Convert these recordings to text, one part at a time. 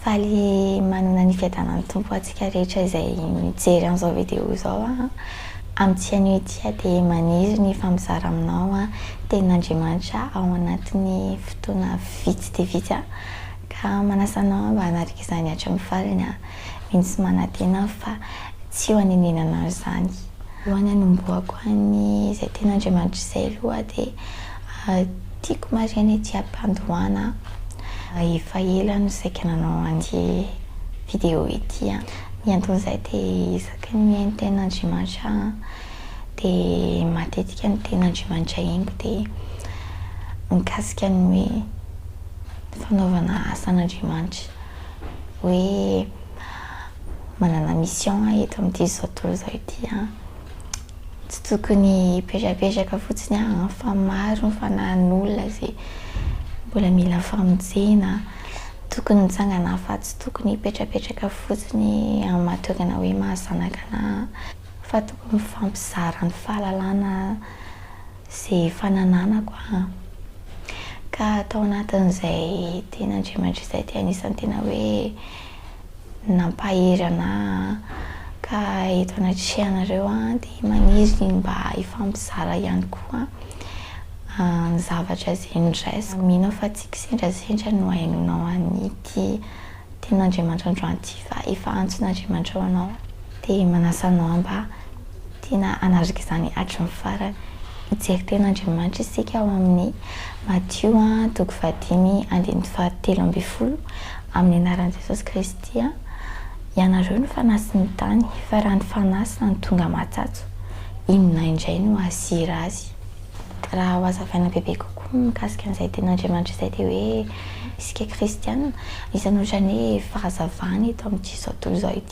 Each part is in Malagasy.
Faly manana ny fiadanan'ny Tompo antsika rehetra izay mijery an'izao video izao an! Amin'ity anio ity aho dia maniry ny hifampizara aminao an! Tenin'Andriamanitra ao anatin'ny fotoana vitsy dia vitsy an! Ka manasa anao mba hanaraka izany hatramin'ny farany an! Mino sy manantena aho fa tsy ho anenenanao izany! Alohan'ny hanombohako an'izay tenin'Andriamanitra izay aloha dia Tiako marina ity ampandohana a! Efa ela aho no saika nanao an'ity vidéo ity a! Ny anton'izay dia isaky ny mihaino tenin'Andriamanitra aho an, dia matetika ny tenin'Andriamanitra henoko dia mikasika ny hoe ny fanaovana asan'Andriamanitra. Hoe manana mission aho eto amin'ity zao tontolo izao ity an! Tsy tokony hipetrapetraka fotsiny an, fa maro ny fanahin'olona izay mbola mila famonjena, tokony mitsangana fa tsy tokony hipetrapetraka fotsiny amin'ny maha toy ny hoe maha zanaka anah, fa tokony mifampizara ny fahalalana izay efa nananako an, ka tao anatin'izay tenin'Andriamanitra izay dia anisan'ny tena hoe. nampahery ana ka eto anatrehanareo dia maniry mba hifampizara ihany koa ny zavatra izay noraisiko. Mino aho fa tsy kisendrasendra no hahainoanao an'ity tenin'Andriamanitra androany ity fa efa antson'Andriamanitra ho anao. Dia manasa anao mba tiana hanatrika izany hatry ny farany. Hijery tena Andriamanitra isika ao amin'ny Matio toko fahadimy andininy fahatelo ambin'ny folo, Amin'ny anaran'i Jesosy Kristy, ianareo no fanasy ny tany, fa raha ny fanasy no tonga matsatso, inona indray no hahasira azy? Raha hohazavaina bebe kokoa mikasika an'izay teny Andriamanitra izay dia hoe isika kristiana, misy an'ohatran'ny hoe fahazavana eto amin'ity zao tontolo izao ity.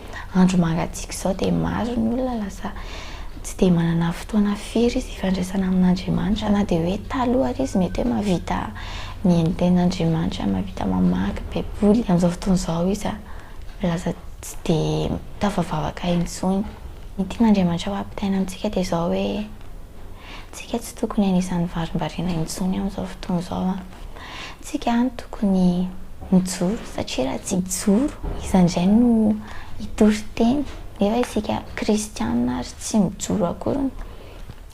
andro mangatsiaka izao dia maro ny olona lasa tsy dia manana fotoana firy izy hifandraisana amin'Andriamanitra na dia hoe taloha ary izy mety hoe mahavita mihaino tenin'Andriamanitra, mahavita mamaky baiboly, amin'izao fotoana izao izy lasa tsy dia tafavavaka intsony. Ny tian'Andriamanitra ho ampitaina amintsika dia izao hoe, isika tsy tokony hanisan'ny varimbariana intsony amin'izao fotoana izao an. Tsika no tokony mijoro satria raha tsy mijoro iza indray no hitory teny nefa isika kristiana ary tsy mijoro akory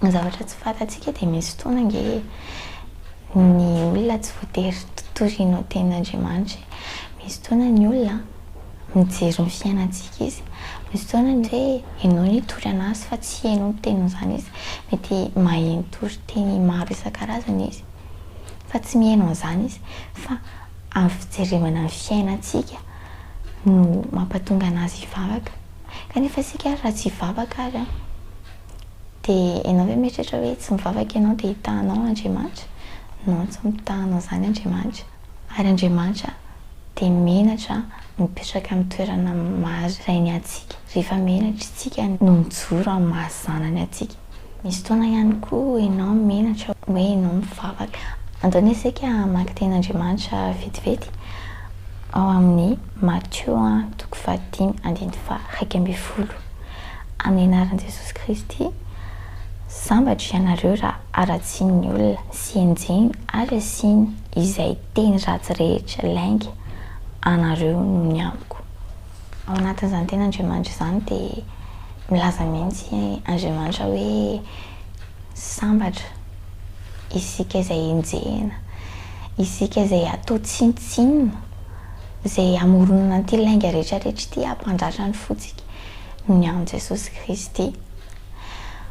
ny zavatra tsy fantatsika dia misy fotoana ange ny olona tsy voatery toriana ny tenin'Andriamanitra e! Misy fotoana ny olona mijery ny fiainantsika izy, misy fotoana ny hoe enao no hitory anazy fa tsy enao miteny an'izany izy, mety maheno toriteny maro isan-karazany izy. fa tsy mihaino an'izany izy fa amin'ny fijerevana ny fiainantsika no mampatonga an'azy hivavaka. Kanefa isika ary raha tsy hivavaka ary an, dia ianao ve mieritreritra hoe tsy mivavaka ianao dia hitahanao Andriamanitra? Non, tsy mitahanao izany Andriamanitra. Ary Andriamanitra dia menatra mipetraka amin'ny toerana maha Rainy antsika, rehefa menatra isika no mijoro amin'ny maha Zanany antsika. Misy fotoana ihany koa ianao menatra hoe ianao mivavaka. Andao anie isika hamaky tenin'Andriamanitra vetivety ao amin'ny Matio toko fahadimy andininy faharaika ambin'ny folo, Amin'ny anaran'i Jesosy Kristy, sambatra ianareo raha haratsiany ny olona sy henjehiny ary asiany izay teny ratsy rehetra lainga anareo noho ny amiko. Ao anatin'izany tenin'Andriamanitra izany dia. Milaza mihitsy Andriamanitra hoe, Sambatra isika izay enjehina, isika izay atao tsinontsinona, izay amoronana an'ity lainga rehetrarehetra ity hampandratra ny fontsika noho ny an'i Jesosy Kristy.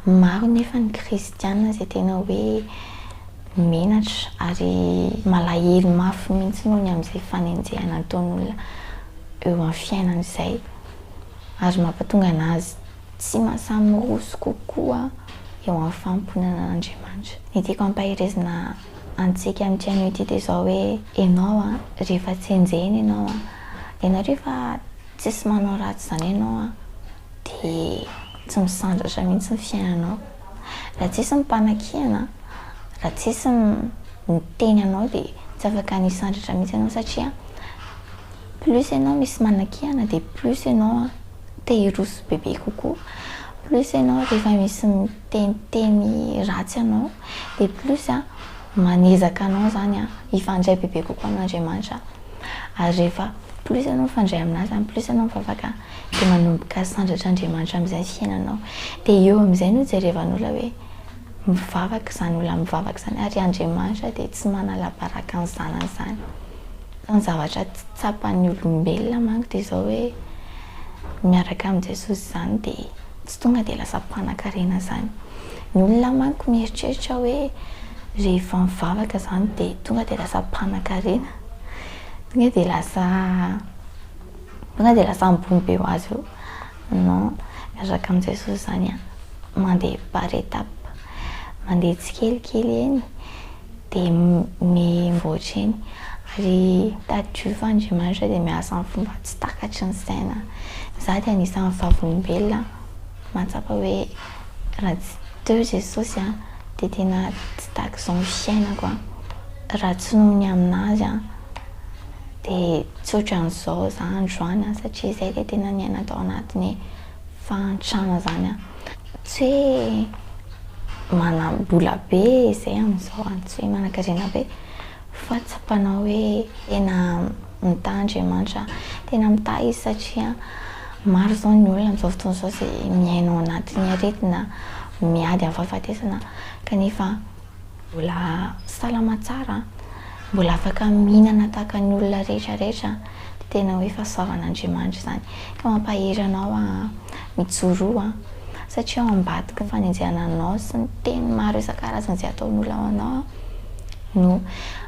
Maro anefa ny kristiana izay tena hoe menatra ary malahelo mafy mihitsy noho ny amin'izay fanenjehana ataon'olona eo amin'ny fiainany izay. ary mampatonga anazy tsy mahasahy miroso kokoa eo amin'ny fanompoana an'Andriamanitra. Ny tiako hampaherezana antsika amin'ity anio ity dia izao hoe, ianao an, rehefa tsy enjehina ianao an, ianao rehefa tsisy manao ratsy izany ianao an, dia tsy misandratra mihitsy ny fiainanao. Raha tsisy ny mpanakihana, raha tsisy ny miteny anao dia tsy afaka hisandratra mihitsy ianao satria. Plus ianao misy manakiana dia plus ianao te hiroso bebe kokoa, plus ianao rehefa misy miteniteny ratsy anao dia plus manezaka anao izany hifandray bebe kokoa amin'Andriamanitra, ary rehefa plus ianao mifandray amin'Azy izany, plus ianao mivavaka dia manomboka sandratr'Andriamanitra amin'izay ny fiainanao, dia eo amin'izay no jerevan'olona hoe mivavaka izany olona mivavaka izany, ary Andriamanitra dia tsy manala baraka ny zanany izany. Fa ny zavatra tsy tsapan'ny olombelona manko dia izao hoe miaraka amin'i Jesosy izany dia tsy tonga dia lasa mpanankarena izany. Ny olona manko mieritreritra hoe rehefa mivavaka izany dia tonga dia lasa mpanankarena, tonga dia lasa tonga dia lasa ambony be ho azy eo. Non, miaraka amin'i Jesosy izany an, mandeha par étape, mandeha tsikelikely eny. dia mivoatra eny. Ary tadidio Andriamanitra dia miasa amin'ny fomba tsy takatry ny saina. Izaho dia anisan'ny vavolombelona mahatsapa hoe raha tsy teo Jesosy aho dia tena tsy tak'izao ny fiainako aho. Raha tsy noho ny amin'Azy aho dia tsy ohatran'izao izaho androany satria izahay dia tena niaina tao anatin'ny. fahantrana zany an, tsy hoe manam-bola be izay amin'izao an, tsy hoe manankarena be, fa tsapanao hoe tena mitaha Andriamanitra, tena mitaha izy satria maro izao ny olona amin'izao fotoana izao izay miaina ao anatin'ny aretina, miady amin'ny fahafatesana kanefa, Mbola salama tsara an! Mbola afaka mihinana tahaka ny olona rehetra rehetra an! Dia tena hoe fahasoavan'Andriamanitra izany. Ka mampahery anao aho an! Mijoroa an! Satria ao ambadiky ny fanenjehana anao sy ny teny maro isan-karazany izay ataon'olona ao anao an! no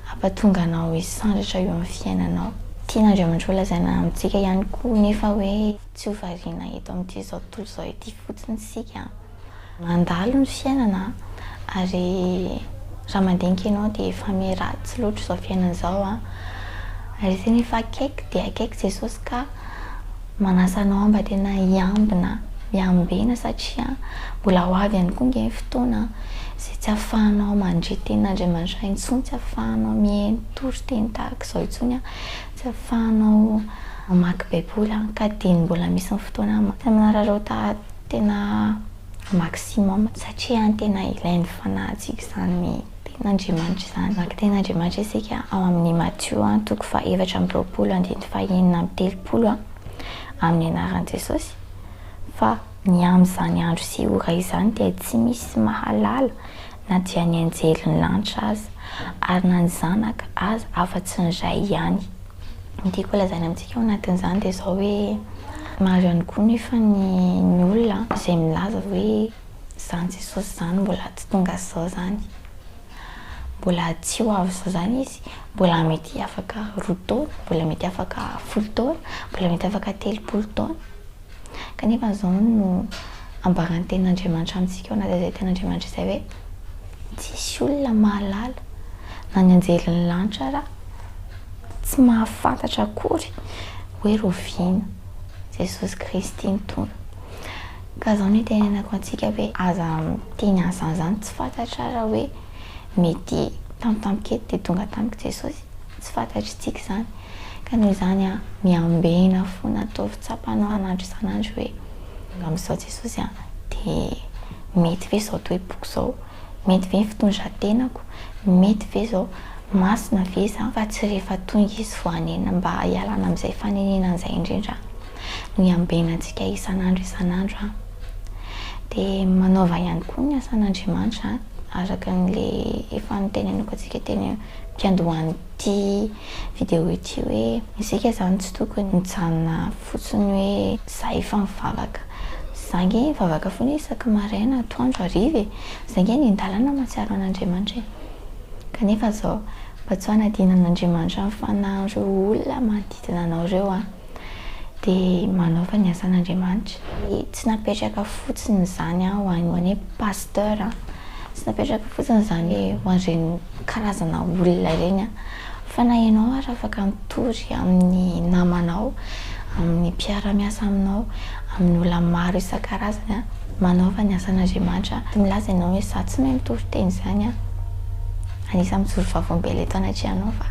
hampatonga anao hisandratra eo amin'ny fiainanao. Tian'Andriamanitra ho lazaina amintsika ihany koa anefa hoe tsy ho variana eto amin'ity izao tontolo izao ity fotsiny isika an! Mandalo ny fiainana ary raha mandinika ianao dia efa miratsy loatra izao fiainana izao an! Ary tena efa akaiky dia akaiky Jesosy ka manasa anao mba tena hiambina, hiambena satria mbola ho avy ihany koa ange ny fotoana izay tsy afahanao mandre tena Andriamanitra intsony, tsy afahanao mihaino toriteny tahaka izao intsony, tsy afahanao mamaky baiboly ka dieny mbola misy ny fotoana manararaotanao. Tena maximum satria tena ilain'ny fanahintsika izany ten'Andriamanitra izany. Maka ten'Andriamanitra isika ao amin'ny Matio toko fahaefatra amby roapolo andininy fahenina amby telopolo amin'ny anaran'i Jesosy fa ny amin'izany andro sy ora izany dia tsy misy mahalala na dia ny anjelin'ny lanitra aza ary na ny zanaka aza afa-tsy ny Ray ihany. Ny tiako holazaina amintsika ao anatin'izany dia izao hoe, maro ihany koa nefa ny ny olona izay milaza hoe izany Jesosy izany mbola tsy tonga izao izany, mbola tsy ho avy izao izany Izy, mbola mety afaka roa taona, mbola mety afaka folo taona, mbola mety afaka telopolo taona. Kanefa izao no ambaran'ny Tenin'Andriamanitra amintsika ao anatin'izay Tenin'Andriamanitra izay hoe, Tsisy olona mahalala, na ny anjelin'ny lanitra ara, tsy mahafantatra akory hoe roviana Jesosy Kristy ny Tompo. Ka izao no itenenako antsika hoe, aza miteny an'izany izany tsy fantatra ara hoe mety tampotampoka eto dia tonga tamiko Jesosy. Tsy fantatr'itsika izany, ka noho izany miambena fona ataovy tsapany an'andro isan'andro hoe amin'izao Jesosy an, dia mety ve izao toe-poko izao, mety ve ny fitondran-tenako, mety ve izao, masina ve izany fa tsy rehefa tonga izy vao hanenina mba hialana amin'izay fanenenana izay indrindra no hiambenantsika isan'andro isan'andro an. Dia manaova ihany koa ny asan'Andriamanitra araka an'ilay efa noteneniko antsika teny. mpiandohan'ity video ity hoe isika izany tsy tokony mijanona fotsiny hoe za efa mivavaka, za nge mivavaka foana isaky maraina, atoandro, hariva e! za nge any an-dalana mahatsiaro an'Andriamanitra e! kanefa zao mba tsy hanadinan'Andriamanitra ny fanahin'ireo olona manodidina anao ireo an! dia manaova ny asan'Andriamanitra. Tsy napetraka fotsiny izany ho an'ny hoe pasteur, tsy napetraka fotsiny izany hoe ho an'ireny karazana olona ireny fa na ianao ary afaka mitory amin'ny namanao, amin'ny mpiara-miasa aminao, amin'ny olona maro isan-karazany manaova ny asan'Andriamanitra. Milaza ianao hoe izaho tsy mahay mitory teny izany an! Anisan'ny mijoro vaovao mbela eto anatrehanao fa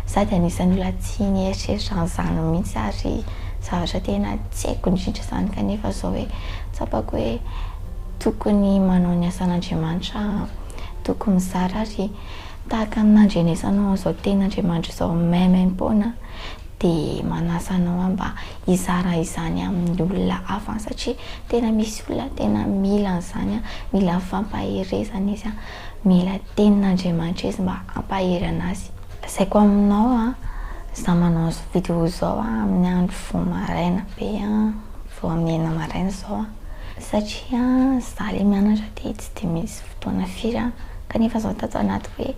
za dia anisan'ny olona tsy nieritreritra an'izany mihitsy ary zavatra tena tsy haiko indrindra izany kanefa izao hoe tsapako hoe tokony manao ny asan'Andriamanitra aho, tokony mizara ary tahaka ny nandrenesanao an'izao tenin'Andriamanitra izao maimaim-poana dia manasa anao aho mba hizara izany amin'ny olona hafa any satria tena misy olona tena mila an'izany, mila fampaherezana izy. Mila tenin' Andriamanitra izy mba hampaherana azy. Lazaiko aminao an, izaho manao izao video izao an, amin'ny andro vao maraina be an, vao amin'ny enina maraina izao an, satria an, izaho ilay mianatra dia tsy dia misy fotoana firy an, kanefa izao tao anaty hoe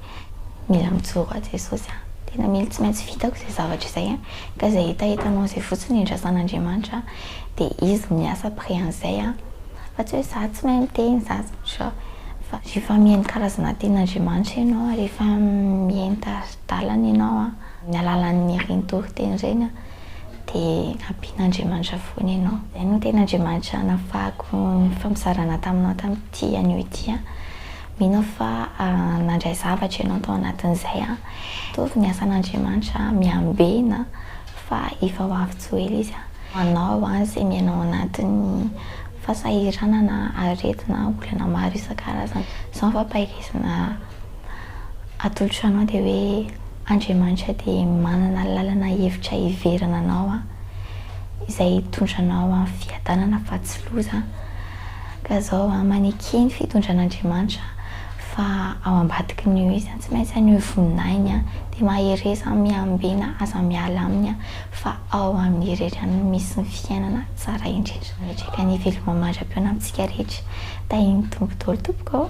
mila mijoro ho ahy Jesosy an, tena mila tsy maintsy vitako izay zavatra izay an, ka izay hetahetanao izay fotsiny no iandrasan' Andriamanitra an. de izy miasa après an'izay an, fa tsy hoe za tsy mahay miteny za tsy fa rehefa mihaino karazana tenin'Andriamanitra ianao ary efa mihaino tari-dalana ianao an, amin'ny alalan'ireny toriteny ireny an, de ampian'Andriamanitra foana ianao. Izay no tena Andriamanitra nafahako nifampizarana taminao tamin'ity anio ity an, mino aho fa nandray zavatra ianao tao anatin'izay an, mitovy ny asan'Andriamanitra an, miambena an. Fa efa ho avy tsy ho ela izy an! Manao an izay miaina ao anatin'ny fasahiranana, aretina, olana maro isan-karazany. Izao ny fampaherezana atolotra anao dia hoe Andriamanitra dia manana lalana hevitra hiverana anao an, izay hitondra anao amin'ny fiadanana fa tsy loza an! Ka izao an, maneke ny fitondran'Andriamanitra. Fa ao ambadiky ny izy an tsy maintsy any io voninahiny an dia mahereza miambena aza miala aminy an fa ao aminy irery any no misy ny fiainana tsara indrindra miatreka ny hivelomam andram-peona amintsika rehetra tahin'ny Tompo daholo tompoko ô.